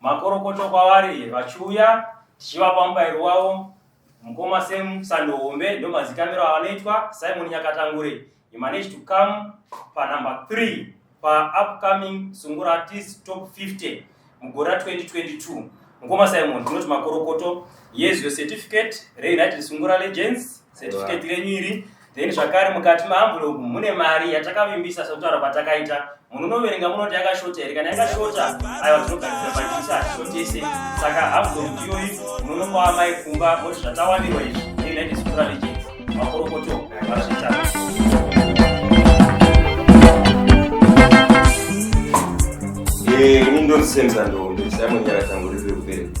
makorokoto kwavari vachiuya tichivapa mubairo wavo mukoma sam sando hombe ndo mazikamiro avanoitwa simon nyakatangure he managed to come panumber 3 paupcoming sungura artist top 50 mugore ra 2022 mukoma simon tinoti makorokoto yes your certificate reunited sungura legends certificate renyu iri then zvakare mukati maambulogu mune mari yatakavimbisa sekutaura kwatakaita munhu unoverenga munoti yakashota here kana yakashota aiwa tinogadzira pachisa hatishotese saka ambulogu iyoyi munhu unopawa mai kumba moti zvatawanirwa izvi neunited sukura legends makorokoto vazvitatu eh, ini ndondisemza ndombe saimonyara tangu riri rekubereka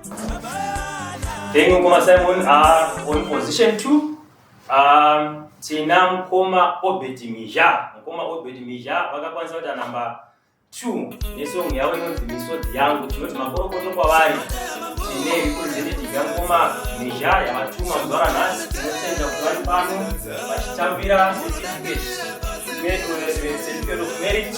Then Mkoma Simon are on position two. Um, tina Mkoma Obed Mija. Mkoma Obed Mija vakakwanisa kuita namba two nesong yavo inonzi misodzi yangu tinoti makorokoto kwavari tine representative yamkoma Mija yavatuma mudhara nhasi tinotenda kuti vari pano vachitambira certificate of merit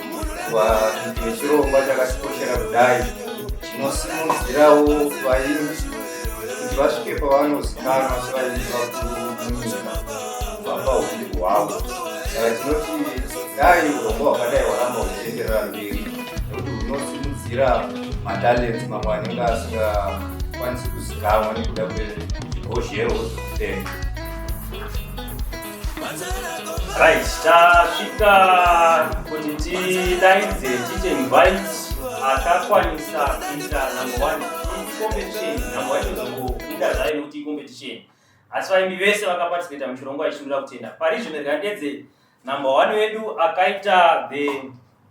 vakuita chirongwa chakatikoshera kudai chinosimudzirawo vaimbi kuti vasvike pavanozikanwa sevaimbi vakuru munyika vamba uimbi hwavo saka tinoti dai urongwa hwakadai hwaramba huchienderera mberi nekuti hunosimudzira matalenti mamwe anenge asingakwanisi kuzikanwa nekuda kwehozhero hwezvekutenga Right, tasvika kuti tidaidze tiite invite akakwanisa kuita number one competition number one izokuita zvayo nekuti competition asi vaimbi vese vakaparticipata muchirongwa ichimira kutenda parizvino rikadedze number one wedu akaita the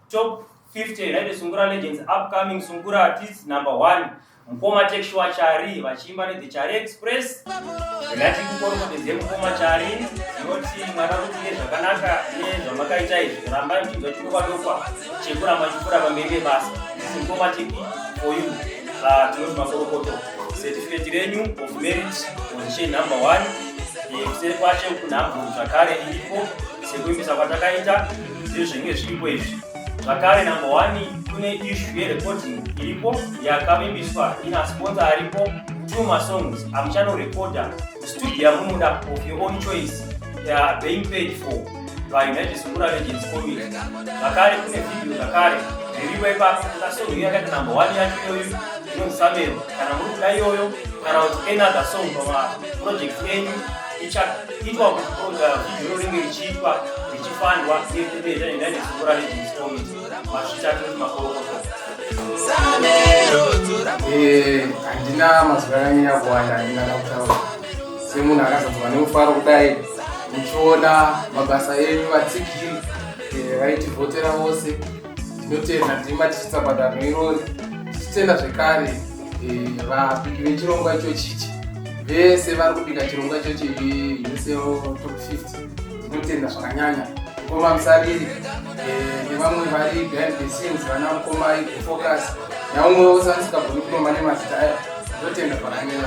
Top 50 United Sungura Legends upcoming Sungura artists number 1 Mkoma Texua Chari vachiimba ne The Chari Express. Ndati kukoro kuti ze Mkoma Chari yoti mwana kuti zvakanaka ne zvamakaita izvi ramba mchinzo chikwa dokwa chekura machikura pamberi basa. This Mkoma TV for you. Ah uh, tinoti makorokoto. Certificate renyu of merit position number 1. Kuseri kwacho kunhambo zvakare iripo sekuimbisa kwatakaita Ndezvenge zviripo izvi zvakare number one kune issue yerecording iripo yakavimbiswa ina sponsor aripo two masongs amuchanorecorda studio yamunoda of your own choice uh, being paid for by united sungura legends committee zvakare kune video zvakare zviripo ipapo kuna song iyo yakaita number one yacho iyoyo inonzi samero kana muri kuda iyoyo kana kuti another song pamaproject enyu ichaitwa kuponda video ringe richiitwa richifanirwa nekupedza nenda nezikora rejinscomi masvitatu makorokoto eh, handina mazuva akanyanya kuwanda handina kakutaura semunhu akazadzwa nemufaro kudai muchiona mabasa enyu vatsigiri eh, vaitivhotera vose ndinotenda ndima tichitsabata rwerori tichitenda zvekare Eh, vabiki vechirongwa ichochichi vese vari kubika chirongwa ichochi uneseo top 50 tinotenda zvakanyanya mukoma musariri eh, nevamwe vari behind the scenes vana mukoma focus naumwe wose asikagoni kuromba nemazita ayo tinotenda zvakanyanya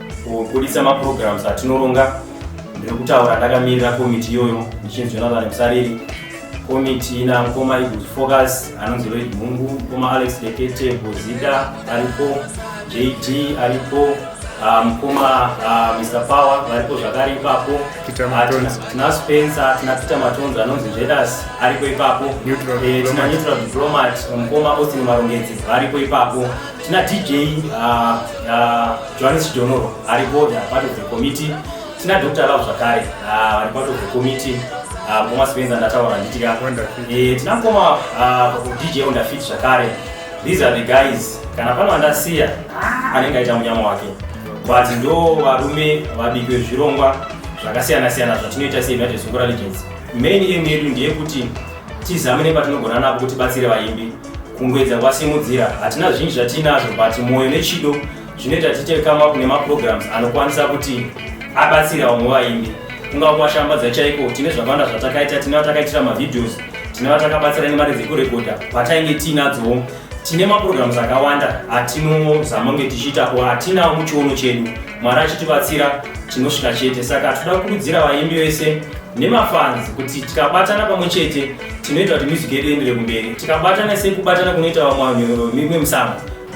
kubuditsa maprograms atinoronga ndiri kutaura ndakamirira komiti iyoyo ndichinzi jonathan musariri komiti ina mukoma iguz focus anonzi loid mhungu mukoma alex lekete bozita aripo jd aripo ah, mukoma ah, mr power varipo zvakare ipapo Peter Ah, tina- Matonzi. tina spencer tina peter matonzi anonzi jedas aripo ipapo Neutral Eh, tina diplomat. neutral diplomat mukoma austin marongedzi varipo ipapo tina dj ah, ah, Johannes Chidonoro ari board part of the committee tina Dr. Love zvakare ah, vari part of the committee ah, mukoma Spencer ndataura nditika eh, tina mukoma ah, DJ Wonderfit zvakare these are the guys kana pano andasiya anenge aita munyama wake but ndo varume vabiki vezvirongwa zvakasiyana siyana zvatinoita seunited sungura legends main aim yedu ndeyekuti tizame nepatinogona napo kuti batsire vaimbi Kungwedza kwasimudzira hatina zvinji zvatiinazvo but mwoyo nechido zvinoita tiite come up nemaprograms anokwanisa kuti abatsira vamwe vaimbi kungava kuvashambadza chaiko tine zvakawanda zvatakaita tine vatakaitira mavideos tine vatakabatsira nemari dzekurekodha patainge tiinadzowo tine maprograms akawanda atinozama kunge tichiitapo hatinawo muchiono chedu Mwari achitibatsira tinosvika chete saka tinoda kukurudzira vaimbi vese nemafanzi kuti tikabatana pamwe chete tinoita kuti music yedu iendere kumberi tikabatana sei kubatana kunoita vamwe vanhu mimwe musambo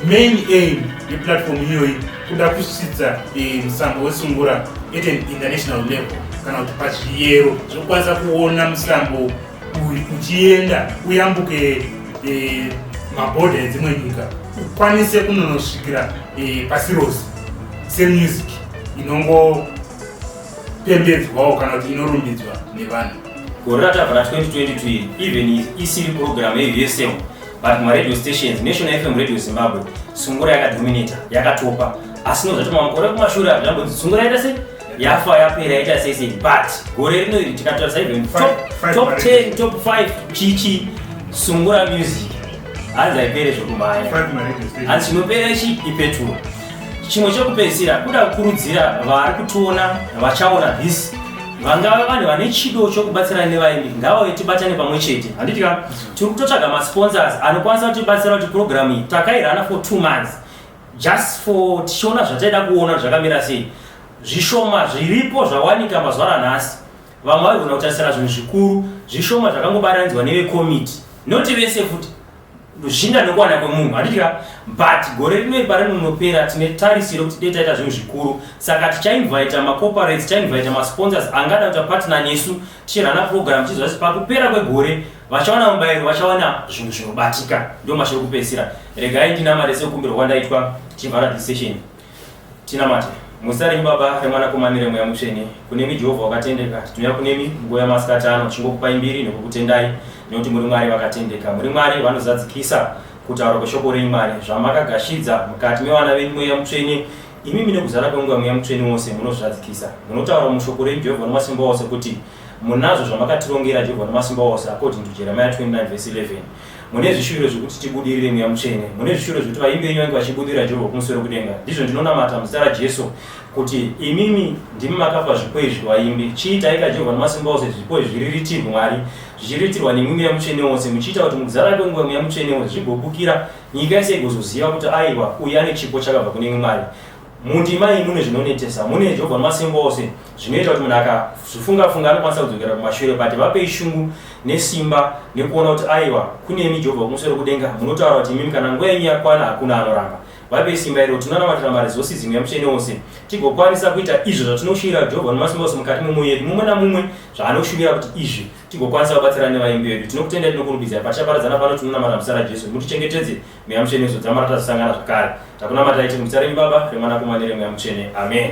main aim yeplatform iyoyi kuda kusvitsa eh, musambo wesungura at an international level kana kuti pazviyero zvekukwanisa kuona musambo uchienda uyambuke e, mabhodha edzimwe nyika ukwanise kunonosvikira e, pasi rose semusic inongopembedzwawo kana kuti inorumbidzwa nevanhu gore ratava ra 2022 iri even isiri program yeusm but maradio stations national fm radio zimbabwe sungura yakadominata yakatopa asi nozvatoma makore kumashure apo zvamboti sungura yaita sei yafa yapera yaita season but gore rino iri tikatarisa even top 10 top 5 chichi sungura music hanzi haipere zvekubaya hanzi chinopera ichi ipetuwa chimwe chekupedzisira kuda kukurudzira vari kutiona vachaona this vangava vanhu vane chido chokubatsira nevaimbi ngavauye tibatane pamwe chete handiti ka tiri kutotsvaga masponsors anokwanisa kutibatsira kuti purogiramu iyi takairana for two months Just for tichiona zvataida kuona zvakamira sei. Zvishoma zviripo zvawanika mazuva ranhasi. Vamwe vaigona kutarisira zvinhu zvikuru, zvishoma zvakangobarandzwa neve committee. Not vese futi. Zvichienda nekuwana kwemunhu, handitya. But gore rino ipari rinopera tine tarisiro kuti dai taita zvinhu zvikuru. Saka tichainvita macorporates, tichainvita masponsors angada kuita partner nesu Tichirana program tichiziva kuti pakupera kwegore vachawana mubairo vachawana zvinhu zvinobatika ndo mashoko kupedzisira regai ndinamate sekukumbirwa kwandaitwa chivhara decision tinamate muzita renyu baba remwanakomani remweya mutsvene kunemi jehovha wakatendeka tinouya kunemi nguva yamasikati ano tichingokupai mbiri nekukutendai nekuti muri mwari vakatendeka muri mwari vanozadzikisa kutaura kweshoko renyu mwari zvamakagashidza mukati mevana venyu mweya mutsvene Imimi nekuzara kwenguva Mweya Mutsvene wose munozvadzikisa. Munotaura mushoko renyu Jehovha Wamasimba Ose kuti munazvo zvamakatirongera Jehovha Wamasimba Ose according to Jeremiah 29 verse 11. Mune zvishuviro zvekuti tibudirire Mweya Mutsvene. Mune zvishuviro zvekuti vaimbi venyu vange vachibudirira Jehovha kumusoro kudenga. Ndizvo ndinonamata muzita raJesu kuti imimi ndimi makapa zvipo izvi vaimbi. Chiitaika Jehovha Wamasimba Ose zvipo izvi zviriritirwe Mwari. Zvichiritirwa nemwi Mweya Mutsvene Wose. Muchiita kuti mukuzara kwenguva Mweya Mutsvene Wose zvigobukira Nyika yese igozoziva kuti aiwa uyu ane chipo chakabva kune imwe Mwari. Mundima iyi mune zvinonetesa, mune Jehovha Wamasimba Ose zvinoita kuti munhu akazvifunga-funga anokwanisa kudzokera kumashure but vapei shungu nesimba nekuona kuti aiwa kune imi Jehovha Wokumusoro Kudenga munotaura kuti imimi kana nguva yenyu yakwana hakuna anoramba. Vapei simba iro tinonamatira maresources imwe yamutsvene wose tigokwanisa kuita izvo zvatinoshuvira Jehovha Wamasimba Ose mukati memwoyo yedu mumwe namumwe zvaanoshuvira kuti izvi tigokwanisa kubatsira nevaimbi vedu tinokutendai tinokurumbidzai patichaparadzana pano tinonamata muzita rajesu mutichengetedze mweya mutsvene izodzama ratazosangana zvakare takunamatai tiri muzita renyu baba remwanakomane remweya mutsvene amen